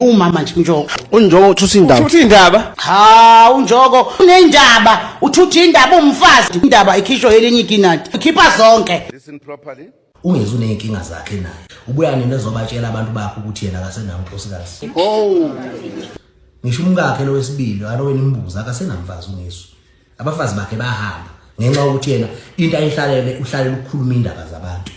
umama nje unjoko unjoko uthutha indaba uthutha indaba ha unjoko unendaba uthutha indaba umfazi indaba ikhishwe elinye ikinati ukhipha zonke listen properly ungezi uneyinkinga zakhe naye ubuya nini ezobatshela abantu bakho ukuthi yena akasenawo unkosikazi oh ngisho umkakhe lowesibili aloweni imbuza akasenamfazi ungesu abafazi bakhe bahamba ngenxa yokuthi yena into ayihlalele uhlalela ukukhuluma indaba zabantu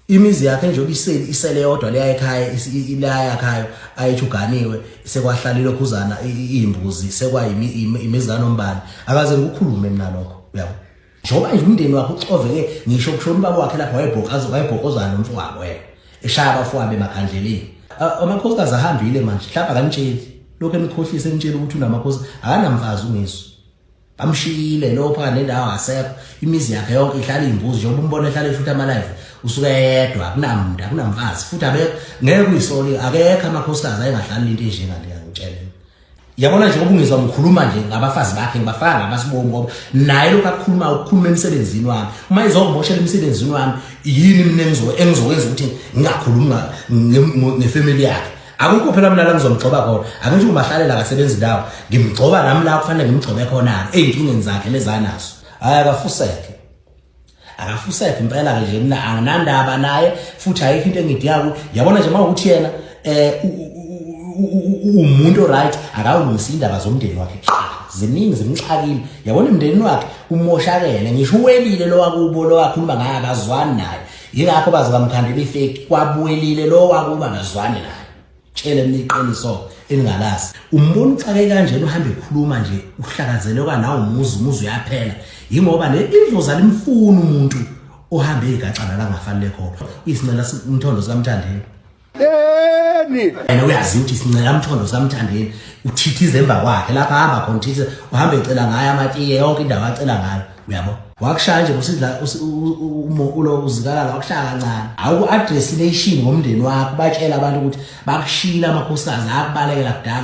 imizi yakhe njengoba iseli isele yodwa leya ekhaya ilaya yakhayo ayethuganiwe sekwahlalile khuzana imbuzi sekwayimi imizana ombani akaze ukukhulume mina lokho uyabo njengoba nje umndeni wakhe uxoveke ngisho kushona ubaba wakhe lapha wayebhokaza wayebhokozana nomfowabo yena eshaya abafowabo emakhandleleni amakhosikazi ahambile manje mhlawumbe akanitsheli lokhu enikhohlise enitshela ukuthi unamakhosi akanamfazi ungesu bamshiyile lo phaka nendawo asekho imizi yakhe yonke ihlala imbuzi njengoba umbona ehlala eshuthi amalife usuke yedwa akunamuntu akunamfazi futhi abekho ngeke uyisoli akekho amakhosikazi ayengahlali into enjengaleyo ngitshela yabona nje ubungizwa ngikhuluma nje ngabafazi bakhe ngibafaka ngabasibomu ngoba naye lokho akukhuluma ukukhuluma emsebenzini wami uma izongimoshela emsebenzini wami yini mina engizokwenza ukuthi ngingakhulumi ngefamily yakhe akukho phela mina la ngizomgxoba khona akusho ubahlalela akasebenzi ndawo ngimgxoba nami la kufanele ngimgxobe khona-ke ey'nkingeni zakhe lezanazo hhayi akafuseke akafusephi impela ke nje mina anginandaba naye futhi ayikho into engidiyako yabona nje mawukuthi yena eh umuntu right akawulungisa indaba zomndeni wakhe ziningi zimxakile yabona umndeni wakhe umoshakele ngisho uwelile lo wakubo lo wakhuluma ngaye akazwani naye yingakho baze bamkhandela ifeki kwabuyelile lo wakuba ngazwani naye tshele mina iqiniso elingalazi umbona uxake kanjena uhambe ekhuluma nje uhlakazeleka nawo umuzi umuzi uyaphela yingoba le indlozi alimfuni umuntu ohambe igacana la ngafanele khona isincela umthondo sikamthandeni yeni yena uyazi ukuthi sincela umthondo sikamthandeni uthithize emva kwakhe lapha hamba khona uthithize uhamba ecela ngayo amatiye yonke indawo acela ngayo uyabo wakushaya nje usidla ulo uzikalala wakushaya kancane awuku address nation ngomndeni wakho batshela abantu ukuthi bakushila amakhosikazi akubalekela kudala